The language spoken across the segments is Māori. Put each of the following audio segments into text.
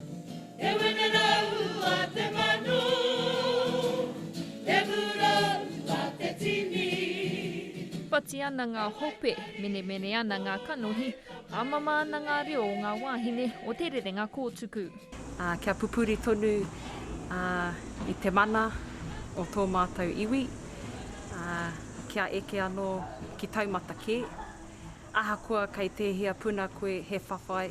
Te wenerau a te manu, te murau a te tini. Whati ana ngā hope, menemene ana ngā kanohi, hāmama ana ngā reo o ngā wāhine o te rerenga kōtuku. Ā, kia pupuri tonu i te mana o tō mātou iwi, ā, kia eke anō ki taumata kē. Ahakoa kei tēhea puna koe he whawhai,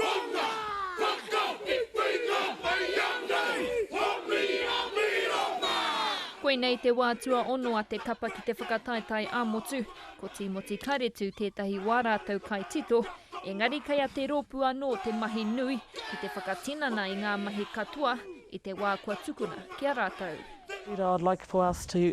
Whana! Whakawhiwhi ngā whaea nei, o mira mira mā! Koinei te wā tuaono a te kapa ki te whakataetae ā-motu. Ko Tīmoti Karetu tētahi wā rātou kai tito, engari kei a te rōpū anō te mahi nui ki te whakatinana i ngā mahi katoa i te wā kua tukuna ki a rātou. Peter, I'd like for us to